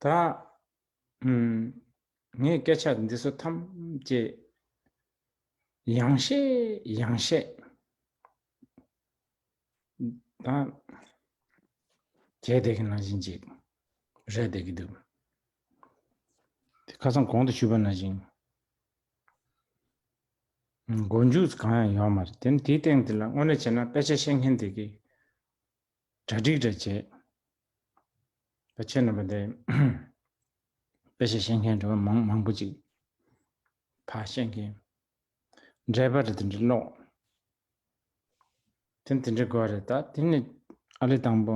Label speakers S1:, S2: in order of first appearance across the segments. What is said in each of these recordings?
S1: ད་ངས་སྐད་ཆ་འདི་ཚོ་ཐམས་ཅད་ཡང་བཤད་ཡང་བཤད་ད་གལ་ཏེ་གི་ནང་བཞིན་ཅིག་རེད་དེ་གི་འདུག་ཁ་སང་གོང་དུ་ཞུས་པ་ནང་བཞིན་མགོ་མཇུག་གང་ཡང་ཡོད་མ་རེད་དེ་དེའི་སྟེང་དེ་ལ་དངོས་གནས་བྱས་ན་དཔེ་ཆ་ཤེས་མཁན་དེ་གིས་གྲ་སྒྲིག་འདྲ་བྱས་པ་ཁྱེད་རྣམ་པ་དེ་དཔེ་ཆ་ཤེས་མཁན་དྲ་བ་མང་མང་པོ་ཅིག་ཕ་ཤེས་མཁན་འདྲ་པ་རེད་དེ་འདྲ་ཀློག་དེ་དེ་འདྲ་དགོས་རེད་ད་དེ་ནི་ཨ་ལེ་དང་པོ་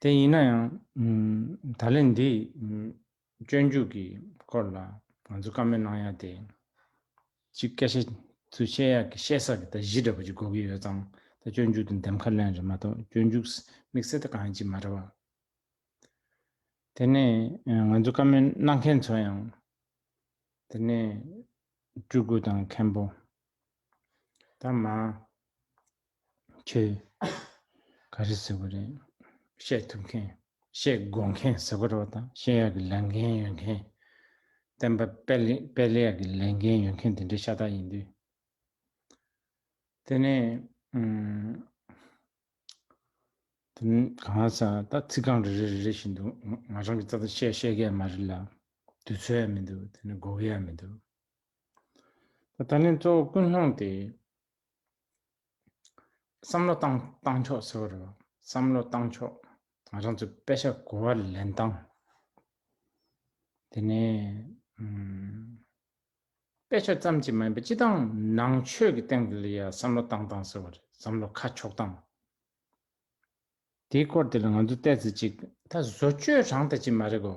S1: དེ་ཡིན་ན་ཡང། ད་ལན་འདི། སྤྱོད་འཇུག་གི་སྐོར་ལ་ང་ཚོ་བཀའ་མོལ་གནང་ཡ་དེ། གཅིག་སྐད་ཆ་ཚུལ་བཤད་ཡག་གི་བཤད་ས་གི་ད་གཞི་འདྲ་པོ་གཅིག་གོ་གི་ཡོད་ཙང་ད་སྤྱོད་འཇུག་དང་འདེམས་ཁ་ལེན་རེད་མ་གཏོགས་སྤྱོད་འཇུག་དམིགས་བསལ་ད་གང་ཡང་གཅིག་མ་རེད་བ། དེ་ནས་ང་ཚོ་བཀའ་མོལ་གནང་མཁན་ཚོ་ཡང། དེ་ནས། སྤྲུལ་སྐུ་དང་མཁན་པོ། ད་མ། ཁྱོད། ག་རེ་ཟེར་བ་རེད། བཤད་ཐུབ་མཁན། བཤད་དགོས་མཁན་ཟེར་བ་རོ་དང་བཤད་ཡག་གི་ལས་འགན་ཡོད་མཁན། བསྟན་པ་སྤེལ་ཡག་གི་ལས་འགན་ཡོད་མཁན་དེ་འདྲའི་ཤ་སྟག་ཡིན་དུས། དེ་ནས། དེ་མིན་གང་ཟག་ད་ཚིག་རྐང་རེ་རེ་རེ་རེ་བཞིན་དུ་ང་རང་གི་རྩ་དོན་བཤད་ཤེས་གི་ཡ་མ་རེད་ལ། དུས་ཚོད་ཡང་མི་འདུག་དེ་ནས་དགོས་གི་ཡང་མི་འདུག། ད་ལན་གཙོ་བོ་ཀུན་སློང་དེ། བསམ་བློ་བཏང་བཏང་ཆོག་ཟེར་བ་རེད། བསམ་བློ་བཏང་ཆོག་ང་རང་ཚོའི་དཔེ་ཆ་གོ་བ་ལེན་སྟངས། དེ་ནས། དཔེ་ཆ་ཙམ་གྱིས་མ་ཡིན་པ་སྤྱི་བཏང་ནང་ཆོས་ཀྱི་སྟེང་དུ་ལ་ཡང་བསམ་བློ་བཏང་བཏང་ཟེར་བ་རེད་བསམ་བློ་ཁ་ཕྱོགས་སྟངས། དེའི་སྐོར་དེ་ལ་ང་ཚོས་བལྟས་ཚེ་གཅིག་ད་བཟོ་བཅོས་རང་ད་ཅི་མ་རེད་གོ།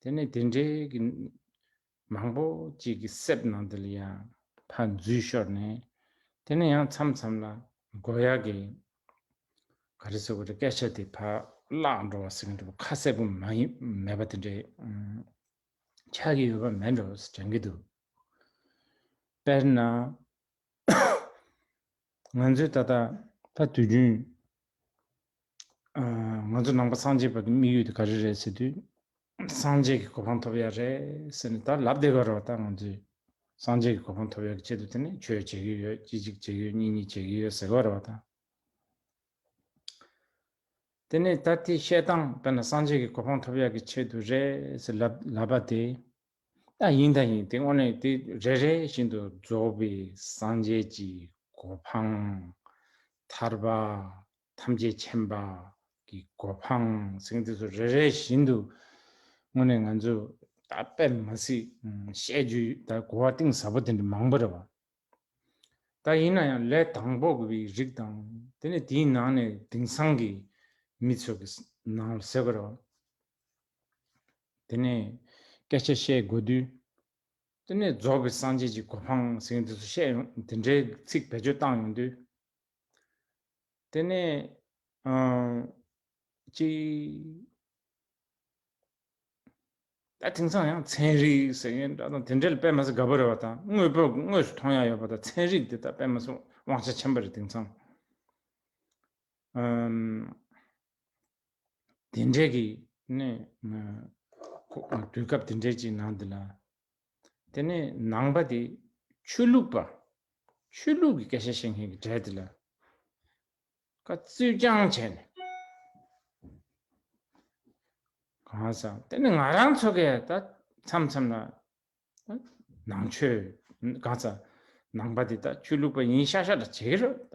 S1: དེ་ནས་དེ་འདྲའི་གི། མང་པོ་ཅིག་གི་གསེབ་ནང་དུ་ལི་ཡང་ཕ་འཛུལ་ཤོར་ནས། དེ་ནས་ཡང་མཚམས་མཚམས་ལ་མགོ་ཡག་གི། ག་རེ་སོ་ག་རེ་སྐད་ཆ་དེ་ཕ་བརླག་འགྲོ་བ་ཟེར་གི་འདུག་པ་ཁ་གསལ་པོ་མ་ཡིན་མེད་པ་དེ་འདྲའི། ཆགས་ཀྱི་ཡོད་པ་མེད་འགྲོ་བ་ཟེར་གྱི་འདུག་དཔེར་ན། ང་ཚོས་ད་ལྟ། ད་དུས་རྒྱུན། ང་ཚོ་ནང་པ་སངས་རྒྱས་པ་དེ་དམིགས་ཡུལ་དེ་ག་རེ་རེད་ཟེར་དུས། སངས་རྒྱས་ཀྱི་གོ་འཕང་ཐོབ་ཡག་རེད་ཟེར་ནས་ད་ལབ་བསྡད་པ་རེད་བ་ད་ང་ཚོས། སངས་རྒྱས་ཀྱི་གོ་འཕང་ཐོབ་ཡག་གི་ཆེད་དུ་དེ་ནས་ཆོས་བྱེད་ཀྱི་ཡོད་གཅིག་གཅིག་བྱེད་ཀྱི་ཡོད་གཉིས་གཉིས་བྱེད་ཀྱི་ཡོད་ཟེར་གི་བ་རེད་བ་ད། དེ་ནས་ད་དེ་བཤད་སྟངས་དཔེར་ན་སངས་རྒྱས་ཀྱི་གོ་འཕང་ཐོབ་ཡག་གི་ཆེད་དུ་རེད་ཟེར་ལབ་པ་དེ། ད་ཡིན་ད་ཡིན་དེ་དངོས་གནས་དེ་རེ་རེ་བཞིན་དུ་རྫོགས་པའི་སངས་རྒྱས་ཀྱི་གོ་འཕང། ཐར་པ་ཐམས་ཅད་མཁྱེན་པ་གི་གོ་འཕང་ཟིན་དེ་ཚོ་རེ་རེ་བཞིན་དུ་དངོས་གནས་ང་ཚོས་ད་དཔེར་མ་ཟིག་བཤད་རྒྱུ་ད་གོ་བ་གཏིང་ཟབ་པོ་དེ་འདྲ་མང་པོ་རེད་བ། ད་ཡིན་ན་ཡང་ལས་དང་པོ་གི་བའི་རིགས་དང་དེ་ནས་དེའི་ནང་ནས་དིང་སང་གི་མི་ཚོ་གི་ནང་ལ་ཟེར་དགོས་རེད་བ། དེ་ནས་སྐད་ཆ་བཤད་དགོས་དུས། དེ་ནས་རྫོགས་པའི་སངས་རྒྱས་ཀྱི་གོ་འཕང་ཟེར་གྱིན་དུས་སུ་བཤད་ཡོང་དེ་འདྲའི་ཚིག་བེད་སྤྱོད་བཏང་ཡོང་དུས། དེ་ནས། ཅིག། ད་དེང་སང་ཡང་ཚན་རིག་ཟེར་གྱིན་འདྲ་དང་དེ་འདྲའི་ལ་པད་མ་སི་དགའ་པོ་རེད་བ་དང་དངོས་པོ་དངོས་སུ་མཐོང་ཡ་ཡོད་པ་དང་ཚན་རིག་དེ་དག་པད་མ་སི་དབང་ཆ་ཆེན་པོ་རེད་དེང་སང། དེ་འདྲའི་གི་ནི་དུས་སྐབས་དེ་འདྲའི་ཅིག་ནང་དེ་ལ་དེ་ནི་ནང་པ་དེ་ཆོས་ལུགས་པ་ཆོས་ལུགས་ཀྱི་སྐད་ཆ་བཤད་མཁན་གྱི་གྲས་དེ་ལ་ཁ་རྩོད་རྐྱང་བྱས་ནས་གང་ས་དེ་ནི་ང་རང་ཚོ་གས་ད་མཚམས་མཚམས་ལ་ནང་ཆོས་གང་ས་ནང་པ་དེ་ད་ཆོས་ལུགས་པ་ཡིན་ཤ་ཤ་ད་བྱེད་རོ་ད་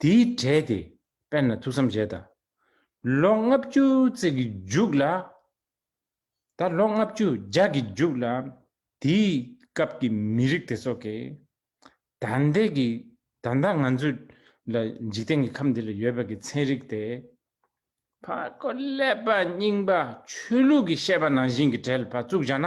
S1: དེའི་གྲས་དེ་དཔེར་ན་ཐུགས་བསམ་བཞེས་དང། ལོ་ལྔ་བཅུ་བརྩེགས་ཀྱི་རྒྱུགས་ལ། ད་ལོ་ལྔ་བཅུ་ལྗགས་ཀྱི་རྒྱུགས་ལ། དེའི་སྐབས་ཀྱི་མི་རིགས་དེ་ཚོ་གི། ད་ལྟའི་གི་ད་ལྟ་ང་ཚོ་ལ་འཇིག་རྟེན་གྱི་ཁམས་འདི་ལ་ཡོད་པ་གྱི་ཚན་རིག་དེ། ཕར་རྒོལ་ཀླད་པ་རྙིང་པ་ཆོས་ལུགས་ཀྱི་བཤད་པ་ནང་བཞིན་གྱི་གྲལ་ལ་བཙུགས་བཞག་ན།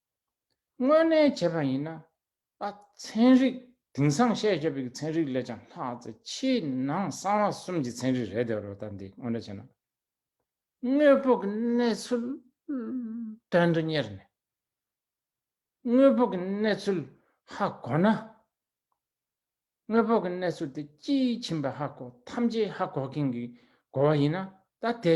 S1: དངོས་གནས་བྱས་པ་ཡིན་ན། ཨ་ཚན་རིག་དིང་སང་བཤད་རྒྱབ་ཡིག་ཚན་རིག་ལས་ཀྱང་ལྷག་ཚེ་ཕྱི་ནང་གསང་བ་གསུམ་གྱི་ཚན་རིག་རེད་དེ་རོ་ལྟ་འདི་དངོས་འདྲ་བྱས་ན། དངོས་པོ་གི་གནས་ཚུལ་དོན་དུ་གཉེར་ནས། དངོས་པོ་གི་གནས་ཚུལ་ཧ་གོ་ན། དངོས་པོ་གི་གནས་ཚུལ་དེ་སྤྱིའི་ཁྱིམ་པའི་ཧ་གོ་ཐམས་ཅད་ཧ་གོ་མཁན་གྱི་གོ་བ་ཡིན་ན་ད་དེ་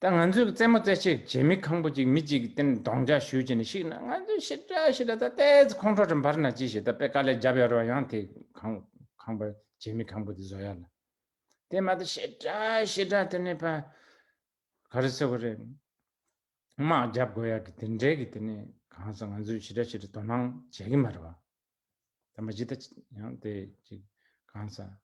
S1: ད་ང་ཚོས་རྩེད་མོ་རྩེ་ཕྱིར་རྗེ་མི་ཁང་བུ་གཅིག་མི་གཅིག་གི་སྟེང་གདོང་འཇགས་ཞུས་ཀྱིན་ཞིག་ན་ང་ཚོས་ཤི་ཏྲ་ཤི་ཏྲ་ད་ལྟའི་ཚེ་ཁོང་ཁྲོ་ཁྲོ་འབར་ན་ཅི་ཞིག་ད་དཔེ་དཀའ་ལས་བརྒྱབ་ཡོད་རོགས་ཡང་དེ་ཁང་ཁང་བུ་རྗེ་མི་ཁང་བུ་དེ་བཟོ་ཡ་ལ་དེ་མ་ཏོ་ཤི་ཏྲ་ཤི་ཏྲ་དེ་ནི་ཕ། ག་རེ་ཟེར་བ་རེད། དམག་བརྒྱབ་དགོས་ཡག་གི་དེ་འདྲའི་གི་དེ་ནི་གང་ཟག་ང་ཚོས་ཤི་ཏྲ་ཤི་ཏྲ་དོ་སྣང་བྱེད་གི་མ་རེད་བ། དེ་མ་ཇི་ལྟ་ཡང་དེ་ཅིག་གང་ཟག།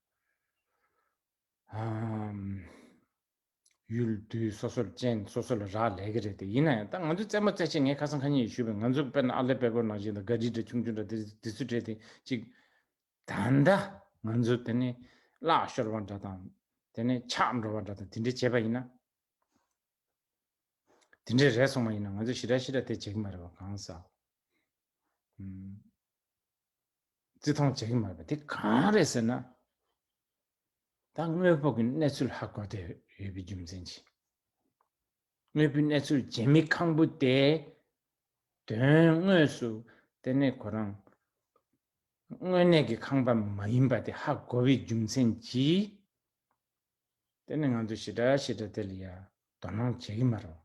S1: ཡུལ་དུས་སོ་སོར་ཅན་སོ་སོ་ལ་རག་ལས་ཀྱི་རེད་དེ་ཡིན་ན་ཡང་ད་ང་ཚོས་རྩེད་མོ་རྩེ་ཆེད་ངས་ཁ་སང་ཁ་ཉིན་ཡིས་ཞུས་པའི་ང་ཚོ་དཔེར་ན་ཨར་ལས་པད་ཀོར་ནང་བཞིན་དང་ག་རིལ་འདྲ་ཆུང་ཆུང་འདྲ་དེ་དེ་ཚོས་བྲེལ་ཏེ་ཅིག། ད་ལྟ་ང་ཚོ་དེ་ནི་གླག་ཤོར་བ་འདྲ་དང། དེ་ནི་ཆག་འགྲོ་བ་འདྲ་དང་དེ་འདྲས་བྱས་པ་ཡིན་ན། དེ་འདྲས་རེད་སོང་བ་ཡིན་ན་ང་ཚོས་ཞི་ར་ཞི་ར་དེ་བྱེད་ཀྱི་མ་རེད་བ་གང་ཟག། བརྩི་མཐོང་བྱེད་ཀྱི་མ་རེད་དེ་གང་རེད་ཟེར་ན། ད་དངོས་ཕུགས་ཀྱི་གནས་ཚུལ་ཧ་གོ་བསྡད་ཡོད་པའི་རྒྱུ་མཚན་གྱིས། དངོས་པོའི་གནས་ཚུལ་བྱེད་མི་ཁང་པོ་དེ། དོན་དངོས་སུ་དེ་ནི་ཁོ་རང་དངོས་གནས་ཀྱི་ཁང་པ་མ་ཡིན་པ་དེ་ཧ་གོ་བའི་རྒྱུ་མཚན་གྱིས། དེ་ནི་ང་ཚོས་ཞི་དྲག་ཞི་དྲག་དེ་ལ་ཡང་དོ་སྣང་བྱེད་ཀྱི་མ་རེད།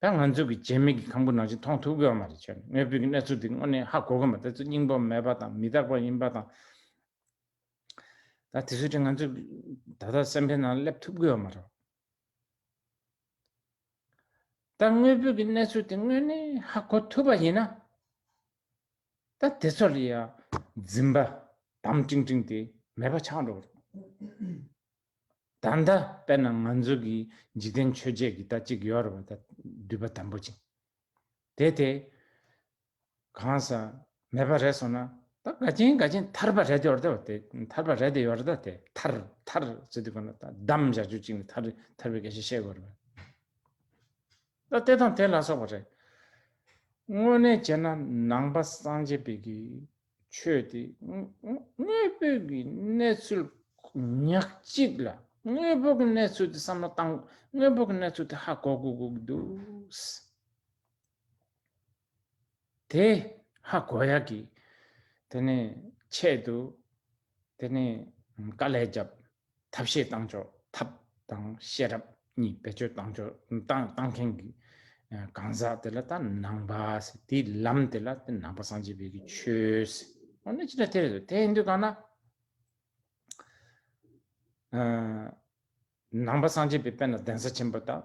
S1: ད་ང་ཚོས་ཀྱི་རྗེས་མེད་ཀྱི་ཁམས་ཀྱི་ནང་ཆེན་མཐོང་ཐུབ་དགོས་ཀྱི་མ་རེད་ཆོས་ནི་དངོས་པོའི་ཀྱི་གནས་ཚུལ་འདི་དངོས་གནས་ཧ་གོ་གི་མ་རེད་དེ་ཚོ་སྙིང་པོ་མེད་པ་དང་མི་རྟག་པ་ཡིན་པ་དང། ད་དེ་ཚོའི་ཁྲོད་ང་ཚོས་ད་ལྟ་སེམས་པའི་ནང་སླེབས་ཐུབ་དགོས་ཀྱི་མ་རེད། ད་དངོས་པོའི་ཀྱི་གནས་ཚུལ་དེ་དངོས་གནས་ཧ་གོ་ཐུབ་པ་ཡིན་ན། ད་དེ་ཚོ་ལ་ཡང་འཛིན་པ་དམ་ཀྲིང་ཀྲིང་དེ་མེད་པ་ཆགས་འགྲོ་གི་རེད། ད་ལྟ་དཔེར་ན་ང་ཚོ་གི་འཇིག་རྟེན་ཆོས་བརྒྱད་ཀྱི་ལྟ་གཅིག་ཡོད་རེད་པ་ད་འདུས་པ་དམ་པོ་ཅན། དེ་དེ་གང་ས་མེད་པ་རེད་སོང་ན་ད་དགའ་ཆེན་དགའ་ཆེན་ཐར་པ་རེད་ཡོད་རེད་པ་དེ་ཐར་པ་རེད་ཡོད་རེད་ད་དེ་ཐར་ཐར་ཟེར་དུས་གང་ལ་ད་བདམས་བཞག་ཆོས་གཅིག་ནས་ཐར་ཐར་བའི་སྐད་ཆ་བཤད་དགོས་རེད་པ། ད་ལྟའི་དང་དེ་ལ་སོགས་པ་རེད། དངོས་གནས་བྱས་ན་ནང་པ་སངས་རྒྱས་དཔལ་གྱི་ཆོས་དེ་དངོས་པོའི་གི་གནས་ཚུལ་ཉག་གཅིག་ལ་དངོས་པོ་གི་གནས་ཚུལ་དེ་བསམ་བློ་བཏང་དངོས་པོ་གི་གནས་ཚུལ་དེ་ཧ་གོ་དགོས་དགོས་ཀྱི་འདུག། དེ་ཧ་གོ་ཡག་གི། དེ་ནས་ཆེད་དུ། དེ་ནས་དཀའ་ལས་བརྒྱབ། ཐབས་ཤེས་བཏང་ཆོག་ཐབས་དང་ཤེས་རབ་གཉིས་བེད་སྤྱོད་བཏང་ཆོག་བཏང་བཏང་མཁན་གྱི། གང་ཟག་དེ་ལ་ལྟ་ནང་པ་ཟེར་དེའི་ལམ་དེ་ལ་ལྟ་ནང་པ་སངས་རྒྱས་བོད་ཀྱི་ཆོས། ཨོ་ནི་ཅི་ལ་དེ་རེད་དོ་དེ་ཡིན་དུས་གང་ན། ནང་པ་སངས་རྒྱས་པའི་དཔལ་ལ་གདན་ས་ཆེན་པོ་དང།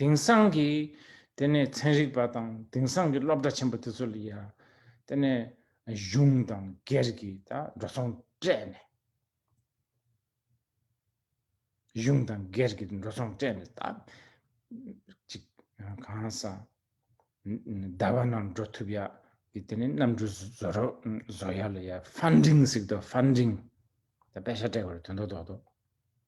S1: དེང་སང་གི་དེ་ནས་ཚན་རིག་པ་དང་དེང་སང་གི་སློབ་གྲྭ་ཆེན་པོ་དེ་ཚོ་ལ་ཡང་དེ་ནས་གཞུང་དང་སྒེར་གྱི་འགྲོ་སོང་སྤྲད་ནས་གཞུང་དང་སྒེར་གྱི་འགྲོ་སོང་སྤྲད་ནས་ད་ཅིག་གང་སང་ཟླ་བ་རྣམས་འགྲོ་ཐུབ་ཡག་གི་དེ་ནས་གནམ་གྲུ་བཟོ་རོགས་བཟོ་ཡག་ལ་ཡང་ཧྥན་ཀྲིང་ཟིག་དོ་ཧྥན་ཀྲིང་ད་དཔེ་ཆ་སྤྲད་དགོས་རེད་དོན་དོ་དོག་དོག།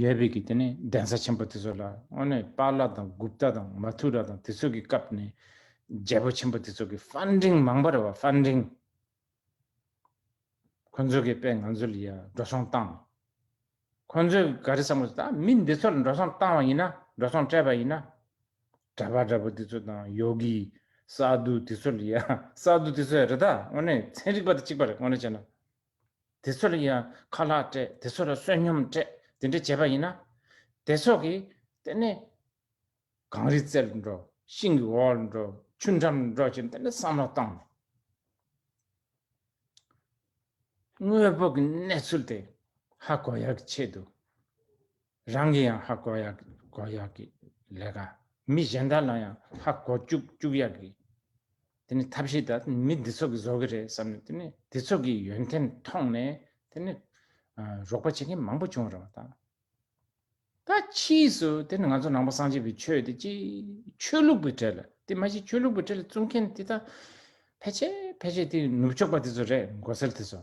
S1: ཡོད་པའི་གི་དེ་ནས་གདན་ས་ཆེན་པོ་དེ་ཚོ་ལ་དངོས་གནས་པཱ་ལ་དང་གུབ་ཏཱ་དང་མ་ཐུ་ར་དང་དེ་ཚོ་གི་སྐབས་ནས་རྒྱལ་པོ་ཆེན་པོ་དེ་ཚོ་གི Funding མང་པོ་རེད་བ Funding ཁོ་ཚོ་གི་དཔེ་ང་ཚོ་ལ་ཡ་འགྲོ་སོང་བཏང་ཁོ་ཚོ་ག་རེ་བསམ་གོ་ད་མི་འདི་ཚོ་ལ་འགྲོ་སོང་བཏང་བ་ཡིན་ན་འགྲོ་སོང་སྤྲད་པ་ཡིན་ན་གྲ་པ་འདྲ་པོ་དེ་ཚོ་དང་ཡོ་གི་སཱ་དུ་དེ་ཚོ་ལ་ཡ་སཱ་དུ་དེ་ཚོ་ཡ་རེད་ད་དངོས་གནས་ཚན་རིག་པ་དེ་གཅིག་པ་རེད་དངོས་གནས་བྱས་ན་དེ་ཚོ་ལ་ཡང་ཁ་ལག་སྤྲད་དེ་ཚོ་ལ་བསོད་སྙོམས་སྤྲད་དེ་འདྲ་བྱས་པ་ཡིན་ན། དེ་ཚོ་གིས་དེ་ནི། གངས་རིའི་རྩེར་འགྲོ་ཤིང་གི་འོག་འགྲོ་ཆུ་འགྲམ་འགྲོ་ཞེས་འདི་འདྲ་བསམ་བློ་བཏང་ནས། དངོས་པོ་གི་གནས་ཚུལ་དེ་ཧ་གོ་ཡག་གི་ཆེད་དུ། རང་གི་ཡང་ཧ་གོ་ཡག་གོ་ཡག་གི་ལས་ཀ། མི་གཞན་དག་ལ་ཡང་ཧ་གོ་བཅུག་བཅུག་ཡག་གི། དེ་ནི་ཐབས་ཤེས་དག་མི་འདི་ཚོ་གི་བཟོ་གི་རེད་བསམ་ནས་དེ་ནི་དེ་ཚོ་གི་ཡོན་ཏན་མཐོང་ནས་དེ་ནི་རོགས་པ་བྱེད་མཁན་མང་པོ་བྱུང་རུང་དང། ད་ཕྱིས་སུ་དེ་ནི་ང་ཚོ་ནང་པ་སངས་རྒྱས་པའི་ཆོས་དེ་ཅི་ཆོས་ལུགས་པའི་གྲལ་དེ་མ་གཞི་ཆོས་ལུགས་པའི་གྲལ་བཙུགས་མཁན་དེ་དག་ཕལ་ཆེར་ཕལ་ཆེར་དེ་ནུབ་ཕྱོགས་པ་དེ་ཚོ་རེད་མགོ་སེར་དེ་ཚོ།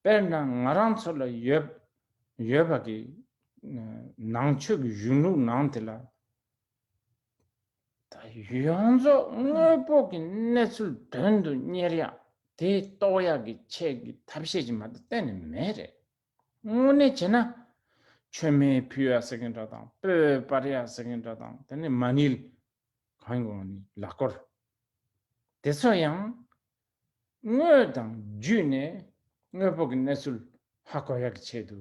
S1: དཔེར་ན་ང་རང་ཚོ་ལ་ཡོད་ཡོད་པ་གི་ནང་ཆོས་ཀྱི་གཞུང་ལུགས་ནང་དེ་ལ་ཡོངས་རྫོགས་དངོས་པོ་གི་གནས་ཚུལ་དོན་དུ་གཉེར་ཡག་དེ་རྟོགས་ཡག་གི་ཆེད་ཀྱི་ཐབས་ཤེས་ཀྱི་མ་དེ་གཏན་ནས་མེད་རེད། དངོས་གནས་བྱས་ན། ཆོས་མེད་ཕུ་ཡ་ཟེར་གིན་འདྲ་དང་སྤོས་སྤར་ཡ་ཟེར་གིན་འདྲ་དང་དེ་ནི་མ་ནིལ། གང་གི་ལག་སྐོར། དེ་ཚོ་ཡང་དངོས་དང་བརྒྱུད་ནས་དངོས་པོ་གི་གནས་ཚུལ་ཧ་གོ་ཡག་གི་ཆེད་དུ་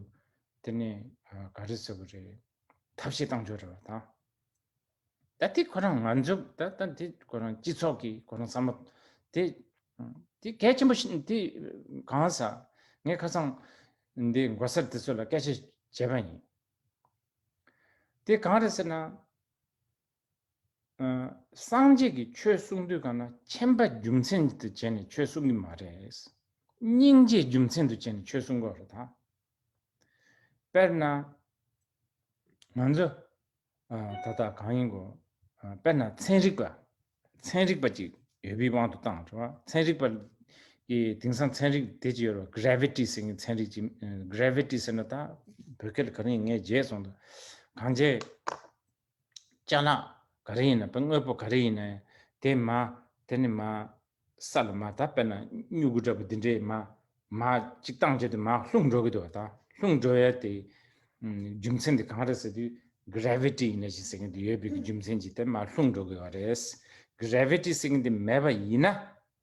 S1: དེ་ནས་ག་རེ་བཟོ་གི་རེད་ཐབས་ཤེས་གཏང་འཇོག་རེད་བ་དང། ད་དེ་ཁོ་རང་ང་ཚོ་ད་ད་དེ་ཁོ་རང་སྤྱི་ཚོགས་ཀྱི་ཁོ་རང་བསམ་བློ་དེ་དེ་གལ་ཆེན་པོ་ཞིག་དེ་གང་ཟག་ངས་ཁ་སང་འདི་མགོ་སེར་དེ་ཚོ་ལ་སྐད་ཆ་བྱས་པ་ཡིན། དེ་གང་རེད་ཟེར་ན། སངས་རྒྱས་ཀྱི་ཆོས་གསུང་དུས་གང་ན་མཁྱེན་པ་རྒྱུ་མཚན་དུ་བྱས་ནས་ཆོས་གསུང་གི་མ་རེད། སྙིང་རྗེ་རྒྱུ་མཚན་དུ་བྱས་ནས་ཆོས་གསུང་དགོས་རེད་ད། དཔེར་ན། ང་ཚོ་ད་ལྟ་གང་ཡིན་དགོས། དཔེར་ན་ཚན་རིག་པ། ཚན་རིག་པ་ཅིག་ཡོད་པའི་དབང་དུ་བཏང་བྱུང། ཚན་རིག་པ། ཀྱི་དེང་སང་ཚན་རིག་དེ་ཅིག་ཡོད་རེད། Gravity ཟེར་མཁན་ཚན་རིག་ཅིག། Gravity ཟེར་ན་ད། བོད་སྐད་ལ་ག་རེ་ཡིན་ངས་བརྗེད་སོང་ད། གང་བྱས། ལྕགས་ལ་ག་རེ་ཡིན་ན་དཔེར་དངོས་པོ་ག་རེ་ཡིན་ན་དེ་མ་དེ་ནི་མ། ས་ལ་མ་དག་དཔེར་ན་སྨྱུ་གུ་འདྲ་བོ་འདི་འདྲའི་མ། མ་གཅིག་བཏང་རྗེས་དེ་མ་ལྷུང་འགྲོ་གི་འདུག་བ་དང་ལྷུང་འགྲོ་ཡ་དེ། རྒྱུ་མཚན་དེ་གང་རེད་ཟེར་དུས Gravity ཡིན་ན་ཞིག་ཟེར་གིན་དུ་ཡོད་པའི་རྒྱུ་མཚན་གྱིས་དེ་མ་ལྷུང་འགྲོ་གི་བ་རེད། Gravity ཟེར་གིན་དེ་མེད་པ་ཡིན་ན།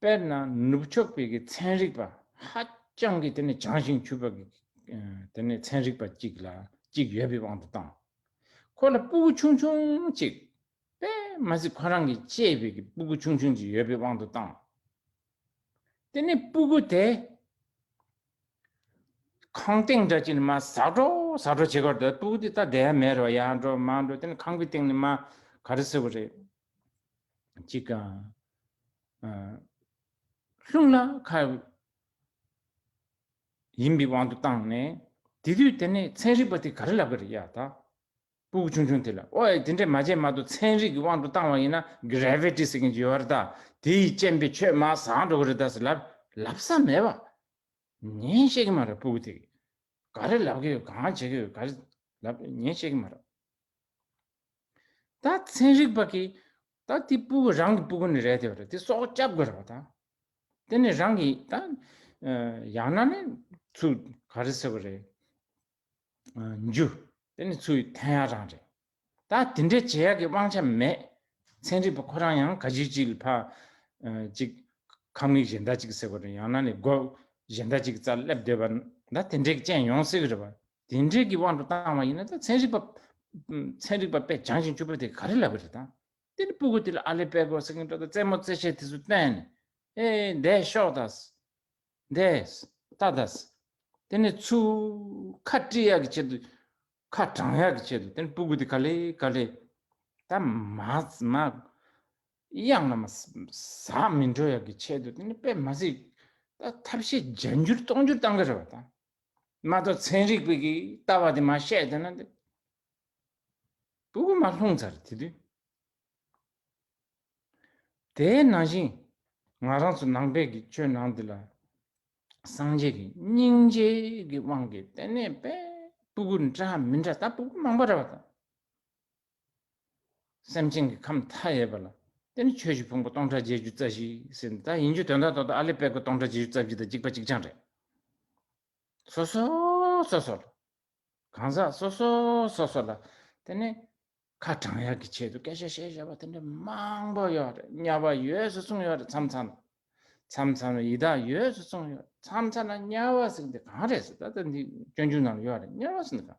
S1: དཔེར་ན་ནུབ་ཕྱོགས་པའི་གི་ཚན་རིག་པ་ཧ་ཅང་གི་དེ་ནི་བྱང་ཞིང་ཆུབ་པ་གི་དེ་ནི་ཚན་རིག་པ་གཅིག་ལ་གཅིག་ཡོད་པའི་དབང་དུ་བཏང། ཁོ་ལ་སྤུ་གུ་ཆུང་ཆུང་གཅིག་པས་མ་ཟིག་ཁོ་རང་གི་གཅེས་པའི་གི་སྤུ་གུ་ཆུང་ཆུང་གཅིག་ཡོད་པའི་དབང་དུ་བཏང། དེ་ནི་སྤུ་གུ་དེ་ཁང་སྟེང་འདྲ་གཅིག་ནི་མ་ཟག་འགྲོ་ཟག་འགྲོ་བྱེད་ཀར་འདོད་སྤུ་གུ་དེ་ད་བསྡད་ཡ་མེད་རོ་ཡ་འགྲོ་མ་འགྲོ་དེ་ནི་ཁང་གི་སྟེང་ནི་མ་ག་རེ་ཟེར་བ་རེད། ཅིག་གམ། ལྷུང་ལ་ཁ་ཡིན་པའི་དབང་དུ་བཏང་ནས། དེ་དུས་དེ་ནས་ཚན་རིག་པ་དེ་ག་རེ་ལབ་གི་རེད་ཡ་ད། སྤུ་གུ་ཆུང་ཆུང་དེ་ལ་ཨོ་ཡ་དེ་འདྲས་མ་བྱས་མ་གཏོགས་ཚན་རིག་གི་དབང་དུ་བཏང་བ་ཡིན་ན Gravity ཟེར་མཁན་གྱི་ཡོད་བ་རེད་ད་དེ་ཡི་སྤྱན་པའི་ཆོས་མ་ཟག་འགྲོ་གི་རེད་ད་ཟེར་ལབ་ལབ་ས་མེད་བ། ཉན་ཤེས་གི་མ་རེད་སྤུ་གུ་དེ་ག་རེ་ལབ་གི་ཡོད་གང་བྱེད་གི་ཡོད་ག་རེ་ལབ་ཉན་ཤེས་གི་མ་རེད། ད་ཚན་རིག་པ་གིས་ད་དེ་སྤུ་གུ་རང་གི་སྤུ་གུ་ནི་རེད་དེ་བ་རེད་དེ་སྲོག་བསྐྱབ་དགོས་རེད་བ་ད། དེ་ནི་རང་གི་ད། ཡང་ན་ནི་ཚུ་ག་རེ་ཟེར་བ་རེད། འཇུ། དེ་ནི་ཚུ་ཡི་ཐན་ཡག་རང་རེད། ད་དེ་འདྲའི་བྱེད་ཡག་གི་དབང་ཆ་མེད། ཚན་རིག་པ་ཁོ་རང་ཡང་ག་ཅིག་ཅིག་ལ་ཕ། ཅིག། ཁ་མིག་གཞན་ད་ཅིག་ཟེར་བ་རེད་ཡང་ན་ནི་སྒོ། གཞན་ད་ཅིག་གི་རྩར་སླེབས་སྡོད་པ་ན་ད་དེ་འདྲའི་གི་ཅན་ཡོང་སྲིད་གི་རེད་བ། དེ་འབྲེལ་གྱི་དབང་དུ་བཏང་བ་ཡིན་ན་ད་ཚན་རིག་པ། ཚན་རིག་པ་དཔེ་སྦྱང་ཞིང་སྤྱོད་པོ་དེ་ག་རེ་ལབ་པ་རེད་དམ། དེ་ནི་སྤུ་གུ་དེ་ལ་ཨ་ལེ་པེ་གོ་སེ་ཀན་ཏོ་ད་རྩེ་མོ་རྩེ་ཆས་དེ་ཚོ་བཏོན་ནས། ཨེ། འདས་ཤོག་ད། འདས། ད་ད། དེ་ནི་ཆུ། ཁ་བཀྲི་ཡག་གི་ཆེད་དུ། ཁ་གྲང་ཡག་གི་ཆེད་དུ་དེ་ནི་སྤུ་གུ་དེ་ག་ལེ་ག་ལེ། ད། མ། མ། གཡང་ན་མ། ཟ་མི་འགྲོ་ཡག་གི་ཆེད་དུ་དེ་ནི་དཔེ་མ་གཟིགས། ད་ཐབས་ཤེས་བརྒྱ་འགྱུར་སྟོང་འགྱུར་བཏང་གི་རེད་བ་ད། མ་གཏོགས་ཚན་རིག་པས་ཀྱི་ལྟ་བ་དེ་མ་བཤད་དེ་ན་དེ། བུ་གུ་མ་ལྷུང་ཚར་དེ་དུས། དེའི་ནང་བཞིན་ང་རང་ཚོ་ནང་པའི་ཀྱི་ཆོས་ནང་དེ་ལ། སངས་རྒྱས་ཀྱི་སྙིང་རྗེ་ཀྱི་དབང་གིས་དེ་ནས་པས་བུ་གུ་འདྲ་མི་འདྲ་ད་བུ་གུ་མང་པོ་ར་བ་དང། སེམས་ཅན་གྱི་ཁམས་མཐའ་ཡས་པ་ལ། དེ་ནི་ཆོས་ཀྱི་ཕུང་པོ་སྟོང་ཕྲག་བརྒྱད་ཅུ་རྩ་བཞི་ཟིན་ད་ཡིན་རྒྱུ་དོན་དང་ཐོག་ཏུ་ཨ་ལས་དཔལ་གོ་སྟོང་ཕྲག་བརྒྱད་ཅུ་རྩ་བཞི་དང་གཅིག་པ་གཅིག་རྐྱང་རེད། སོ་སོ་སོ་སོ་ལ། གང་ཟག་སོ་སོ་སོ་སོ་ལ། དེ་ནི། ཁ་དྲང་ཡག་གི་ཆེད་དུ་སྐད་ཆ་བཤད་བཤད་པ་དེ་འདྲ་མང་པོ་ཡོད་རེད་དམྱལ་བ་ཡོད་སུ་གསུངས་ཡོད་རེད་མཚམས་མཚམས་ལ། མཚམས་མཚམས་ལ་ཡི་དྭགས་ཡོད་སུ་གསུངས་ཡོད་རེད་མཚམས་མཚམས་ལ་དམྱལ་བ་ཟེར་གི་འདི་གང་རེད་ཟེར་ད་ལྟ་འདི་སྐྱོན་ཆུང་ནང་ལ་ཡོད་རེད་དམྱལ་བ་ཟེར་འདི་གང།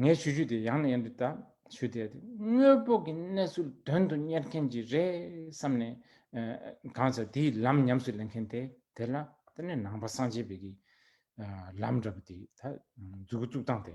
S1: ངས་ཆུ་ཆུ་དེ་ཡང་ནས་ཡང་དུ་བཏབ། ཆུ་དེ་དངོས་པོ་གི་གནས་ཚུལ་དོན་དུ་གཉེར་མཁན་གྱིས་རེད་བསམ་ནས། གང་ཟག་དེའི་ལམ་ཉམས་སུ་ལེན་མཁན་དེ་དེ་ལ་ལྟོས་ནས་ནང་པ་སངས་རྒྱས་པའི་གི་ལམ་འདྲ་པོ་དེ་ད་འཛུགས་གི་བཙུགས་སྟངས་དེ།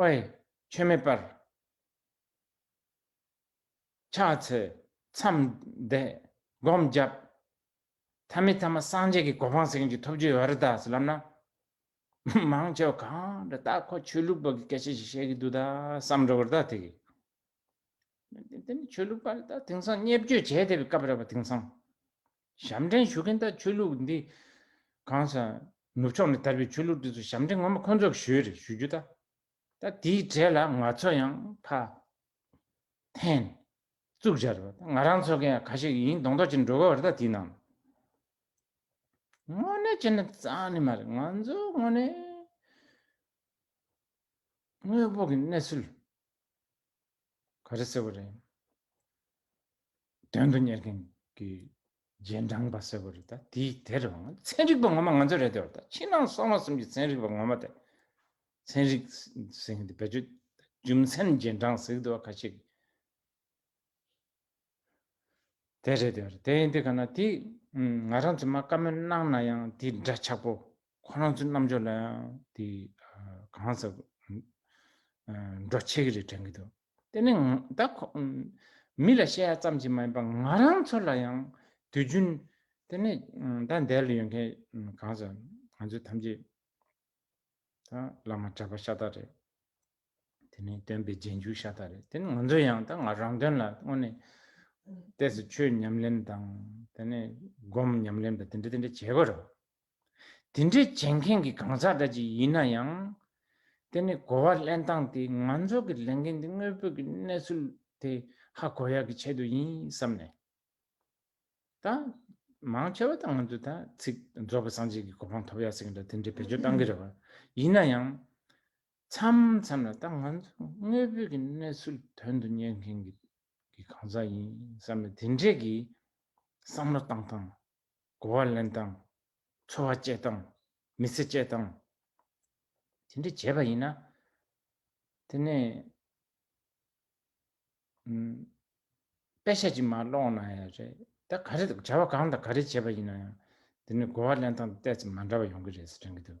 S1: ཨོའི། ཆོས་མེད་པར། ཕྱག་འཚལ། མཚམས་འདས། སྒོམ་བརྒྱབ། ཐ་མི་ཐ་མ་སངས་རྒྱས་ཀྱི་གོ་འཕང་སེང་གེ་ཐོབ་རྒྱུ་ཡོད་རེད་ད་ཟེར་ལབ་ན། མང་ཆེ་བ་གང་འདྲ་ད་ཁོ་ཆོས་ལུགས་པ་གི་སྐད་ཆ་ཞིག་བཤད་གི་འདུག་ད་བསམ་འགྲོ་གི་ད་དེ་གི། དེ་ནི་ཆོས་ལུགས་པ་ལ་ད་དེང་སང་བརྙས་བཅོས་བྱས་བསྡད་པའི་སྐབས་རེད་པ་དེང་སང། ཞབས་འདྲེན་ཞུ་མཁན་དག་ཆོས་ལུགས་འདི་གང་ས་ནུབ་ཕྱོགས་ནས་དར་བའི་ཆོས་ལུགས་འདི་ཚོ་ཞབས་འདྲེན་ངོ་མ་ཁོ་ཚོ་གི་ཞོལ་རེད་ཞུ་རྒྱུ་ད། ད་དེའི་གྲས་ལ་ང་ཚོ་ཡང་ཕ། ཐན། གཙུག་སྦྱར་བ་ད་ང་རང་ཚོ་གི་ག་ཞིག་ཡིན་གདོང་མདོག་ཅིག་འགྲོ་གི་བར་ད་དེའི་ནང། དངོས་གནས་བྱས་ན་གཙང་ནི་མ་རེད་ང་ཚོ་དངོས་གནས། དངོས་པོ་གི་གནས་ཚུལ། ག་རེ་ཟེར་བ་རེད། དོན་དུ་གཉེར་མཁན་གྱི་རྗེས་འབྲང་པ་ཟེར་བ་རེད་ད་དེ་དེ་རེད་བ་ང་ཚན་རིག་པ་ངོ་མ་ང་ཚོ་རེད་དེ་བ་ད་ཕྱི་ནང་གསང་བ་གསུམ་གྱི་ཚན་རིག་པ་ངོ་མ་དེ་ཚན་རིག་ཟེར་མཁན་དེ་བེད་སྤྱོད་རྒྱུ་མཚན་རྗེས་འབྲང་ཟེར་གི་འདུག་བ་ཁ་ཤས་ཀྱི། དེ་རེད་དེ་རེད་དེ་ཡིན་དེ་ག་ན་དེ། ང་རང་ཚོས་མ་བཀའ་མོལ་གནང་ན་ཡང་དེ་འདྲ་ཆགས་པོ། ཁོ་རང་ཚོའི་རྣམ་འཇོག་ལ་ཡང་དེ་གང་ཟག་འགྲོ་ཆེ་གི་རེད་དྲན་གི་འདུག་དེ་ནི་ད་ཁོ། མི་ལ་བཤད་ཡ་ཙམ་གྱིས་མ་ཡིན་པར་ང་རང་ཚོ་ལ་ཡང་དུས་རྒྱུན། དེ་ནི་ད་འདས་ལ་ཡོད་མཁན་གང་ཟག་ང་ཚོ་ཐམས་ཅད། ད་བླ་མ་གྲྭ་པ་ཤ་སྟག་རེད། དེ་ནི་སྟོན་པའི་རྗེས་འཇུག་ཤ་སྟག་རེད་དེ་ནི་ང་ཚོ་ཡང་ད་ང་རང་དོན་ལ་དངོས་ནས་ལྟས་སུ་ཆོས་ཉམས་ལེན་དང་དེ་ནས་སྒོམ་ཉམས་ལེན་པ་དེ་འདྲ་དེ་འདྲ་བྱེད་དགོས་རེད། དེ་འདྲ་བྱེད་མཁན་གྱི་གང་ཟག་འདྲ་ཅིག་ཡིན་ན་ཡང་དེ་ནི་གོ་བ་ལེན་སྟངས་དེ་ང་ཚོ་གི་ལས་འགན་དེ་དངོས་པོ་གི་གནས་ཚུལ་དེ་ཧ་གོ་ཡག་གི་ཆེད་དུ་ཡིན་བསམ་ནས་ད་མང་ཆེ་བ་ད་ང་ཚོ་ད་ཚིག་རྫོགས་པ་སངས་རྒྱས་ཀྱི་གོ་འཕང་ཐོབ་ཡག་ཟེར་གྱི་འདྲ་དེ་འདྲ་བེད་སྤྱོད་གཏང་གི་རེད་བ་ཡིན་ན་ཡང་མཚམས་མཚམས་ལ་ད་ང་ཚོས་དངོས་པོའི་གི་གནས་ཚུལ་དོན་དུ་གཉེར་མཁན་གི་གི་གང་ཟག་ཡིན་བསམ་ནས་དེ་འདྲས་གི་བསམ་བློ་བཏང་སྟངས། གོ་བ་ལེན་སྟངས། འཚོ་བ་སྤྱད་སྟངས། མི་ཚེ་སྤྱད་སྟངས། དེ་འདྲས་བྱས་པ་ཡིན་ན། དེ་ནས། དཔེ་ཆ་ཅིག་མ་ཀློག་ན་ཡང་རེད་ད་ག་རེ་བྱ་བ་གང་དང་ག་རེ་བྱས་པ་ཡིན་ན་ཡང་དེ་ནས་གོ་བ་ལེན་སྟངས་དེ་བལྟས་ཚེ་མ་འདྲ་བ་ཡོང་གི་རེད་ཟེར་དྲན་གི་འདུག།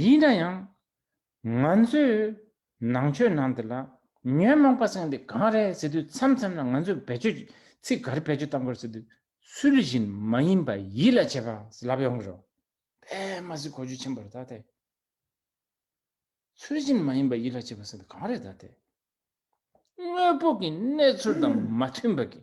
S1: ཡིན་ན་ཡང། ང་ཚོས་ནང་ཆོས་ནང་འདི་ལ་ཉོན་མོངས་པ་སེང་དེ་གང་རེད་ཟེར་དུས་མཚམས་མཚམས་ལ་ང་ཚོས་བེད་སྤྱོད་ཚིག་ག་རེ་བེད་སྤྱོད་བཏང་དགོས་རེད་ཟེར་དུས་ཚུལ་བཞིན་མ་ཡིན་པ་ཡིད་ལ་བྱེད་པ་ལབ་ཡོང་གི་རོ། དེ་མ་ཟིག་གོ་རྒྱུ་ཆེན་པོ་རེད་ད་དེ། ཚུལ་བཞིན་མ་ཡིན་པ་ཡིད་ལ་བྱེད་པ་ཟེར་དུས་གང་རེད་ད་དེ། དངོས་པོ་གི་གནས་ཚུལ་དང་མ་མཐུན་པ་གི།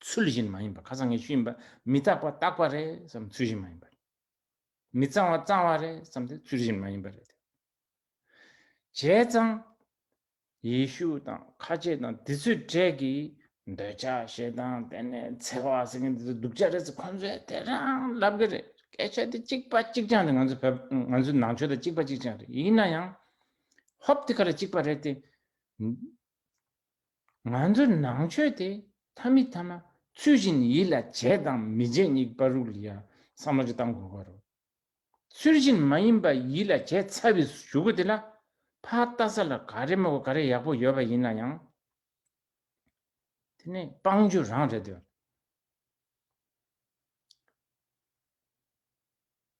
S1: ཚུལ་བཞིན་མ་ཡིན་པ་ཁ་སང་ངས་ཞུས་ཡིན་པ་མི་རྟག་པ་རྟག་པ་རེད་བསམ་ཚུལ་བཞིན་མ་ཡིན་པ་རེད། མི་གཙང་བ་གཙང་བ་རེད་བསམ་དེ་ཚུལ་བཞིན་མ་ཡིན་པ་རེད། བྱས་ཙང། ཡེ་ཤུ་དང་ཁ་ཆེ་དང་དེ་ཚོའི་གྲས་ཀྱི་འདོད་ཆགས་ཞེ་སྡང་དེ་ནས་འཚེ་བ་ཟེར་མཁན་དེ་ཚོ་སྡུག་ཅག་རེད་ཟེར་ཁོང་ཚོས་དེ་རང་ལབ་གི་རེད་སྐད་ཆ་དེ་གཅིག་པ་གཅིག་རྐྱང་རེད་ང་ཚོ་བོད་ང་ཚོའི་ནང་ཆོས་དང་གཅིག་པ་གཅིག་རྐྱང་རེད་ཡིན་ན་ཡང། ཧོབ་དེ་ག་རེ་གཅིག་པ་རེད་དེ། ང་ཚོ་ནང་ཆོས་དེ་ཐ་མི་ཐ་མ་ཚུལ་བཞིན་ཡིད་ལ་བྱེད་དང་མི་བྱེད་གཉིས་པ་རུ་ལ་ཡང་བསམ་བློ་བཏང་དགོས་པ་རུ། ཚུལ་བཞིན་མ་ཡིན་པ་ཡིད་ལ་བྱེད་ཚ་བའི་ཞུ་གུ་དེ་ལ་ཕ་བལྟ་ས་ལ་ག་རེ་མོ་ག་རེ་ཡག་པོ་ཡོད་པ་ཡིན་ན་ཡང་དེ་ནི་དཔང་རྒྱུ་རང་རེད་དོ།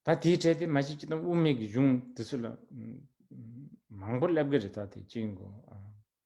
S1: ད་དེའི་གྲས་དེ་མ་ཤེས་ཀྱི་དང་དབུ་མེད་ཀྱི་གཞུང་དེ་ཚོ་ལ་མང་པོ་སླེབས་ཀྱི་རེད་ད་དེ་གཅིག་ཡིན་དགོས།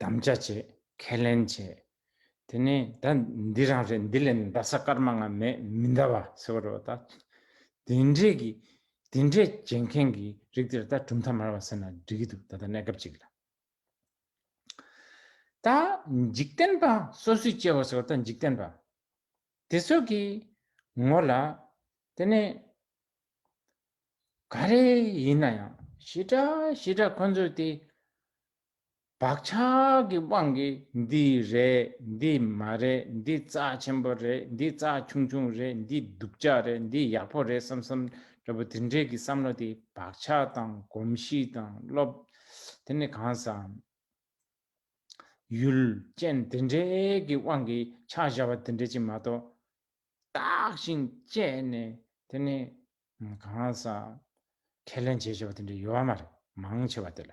S1: དམ་བཅའ་བྱས། ཁས་ལེན་བྱས། དེ་ནས་ད་འདི་རང་རེད་འདི་ལས་འདའ་ས་སྐར་མ་ལྔ་མེད་མི་འདའ་བ་ཟེར་བ་རེད་བ་ད། དེ་འདྲས་ཀྱི་དེ་འདྲས་བྱེད་མཁན་གྱི་རིགས་དེར་ད་གྲུབ་མཐའ་མར་བ་ཟེར་ན་འགྲིག་གི་འདུག་ད་ལྟ་གནས་སྐབས་ཅིག་ལ། ད་འཇིག་རྟེན་པ་སོ་སོའི་སྐྱེ་བོ་ཟེར་བ་ད་འཇིག་རྟེན་པ་དེ་ཚོ་གི་ངོ་ལ་དེ་ནས་ག་རེ་ཡིན་ན་ཡང་ཞེ་དྲག་ཞེ་དྲག་ཁོ་ཚོས་དེ་བག་ཆགས་ཀྱི་དབང་གིས་འདི་རེད་འདི་མ་རེད་འདི་རྩ་ཆེན་པོ་རེད་འདི་རྩ་ཆུང་ཆུང་རེད་འདི་སྡུག་ཅག་རེད་འདི་ཡག་པོ་རེད་བསམ་བསམ་འདྲ་པོ་དེ་འདྲའི་གི་བསམ་བློ་དེ་བག་ཆགས་དང་གོམས་གཤིས་དང་སློབ། དེ་ནི་གང་བསམ། ཡུལ་ཅན་དེ་འདྲའི་གི་དབང་གིས་ཆགས་བཞག་པ་དེ་འདྲ་ཅིག་མ་གཏོགས། བརྟགས་ཤིང་དཔྱད་ནས་དེ་ནི་གང་བསམ། ཁས་ལེན་བྱེད་ཆོག་པ་དེ་འདྲ་ཡོད་མ་རེད་མང་ཆེ་བ་དེ་ལ།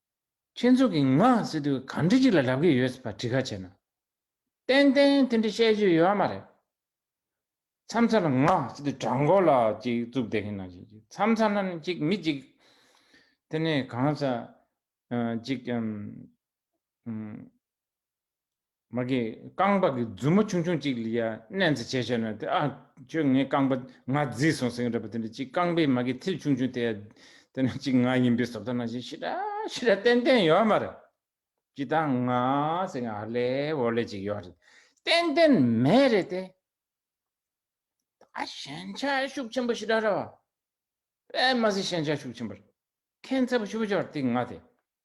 S1: ཁྱེད་ཚོ་གིས་ང་ཟེར་དུས་ག་འདྲི་ཅིག་ལ་ལབ་ཀྱི་ཡོད་པ་དྲི་ཁ་བྱས་ན། ཏན་ཏན་དེ་འདྲི་བཤད་རྒྱུ་ཡོད་མ་རེད། མཚམས་མཚམས་ལ་ང་ཟེར་དུས་དྲ་མགོ་ལ་ཅིག་བཙུགས་བསྡད་ཀྱི་ན་ཅིག་ཅིག་མཚམས་མཚམས་ལ་ན་ཅིག་མི་ཅིག། དེ་ནས་གང་ཟག་ཅིག། མ་གིས་རྐང་པ་གི་མཛུབ་མོ་ཆུང་ཆུང་ཅིག་ལ་ཡ་མནན་ཚེ་བྱས་བྱས་ན་དེ་ཨ། ཁྱོད་ངའི་རྐང་པ་ང་བརྫིས་སོང་ཟེར་གྱི་རེད་པ་དེ་འདྲ་ཅིག་རྐང་པའི་མ་གིས་མཐིལ་ཆུང་ཆུང་དེ་ཡ་དེ་འདྲ་ཅིག་ང་ཡིན་པའི་སོབ་ད་ན་བཞིན་ཤི་ར་ཤི་ར་ཏན་ཏན་ཡོད་མ་རེད། ཅི་ད་ང་ཟེར་གྱི་ཨ་ལེ་འོ་ལེ་ཅིག་ཡོད་རེད་ཏན་ཏན་མེད་རེད་དེ། ད་ཞན་ཆ་ཤུགས་ཆེན་པོ་ཤི་ར་ར་བ། དཔེ་མ་ཟིན་ཞན་ཆ་ཤུགས་ཆེན་པོ་རེད་མཁན་ཚབ་ཤུ་བ་ཅོར་ཏིག་ང་དེ།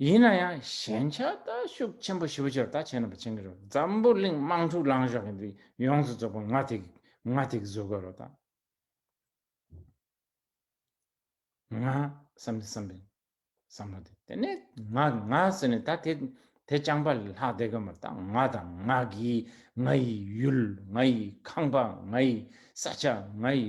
S1: ཡིན་ན་ཡང་ཞན་ཆ་ལྟ་ཤུགས་ཆེན་པོ་ཞི་བ་ཆེར་ད་ཆེ་ན་པ་ཆེན་གི་རོ་འཛམ་བུ་གླིང་དམངས་ཕྲུག་ལངས་ཤོག་གི་འདི་ཡོངས་སུ་རྫོགས་པ་ང་ཐིག་ང་ཐིག་བཟོ་དགོས་རོ་ད་ང་བསམ་དེ་བསམ་པའི་བསམ་བློ་དེ་དེ་ནས་ང་ང་ཟེར་ནས་ད་དེ་དེ་རྐྱང་པ་ལས་ལྷག་བསྡད་དགོས་མ་རེད་ད་ང་དང་ང་གི་ང་ཡི་ཡུལ་ང་ཡི་ཁང་པ་ང་ཡི་ས་ཆ་ང་ཡི་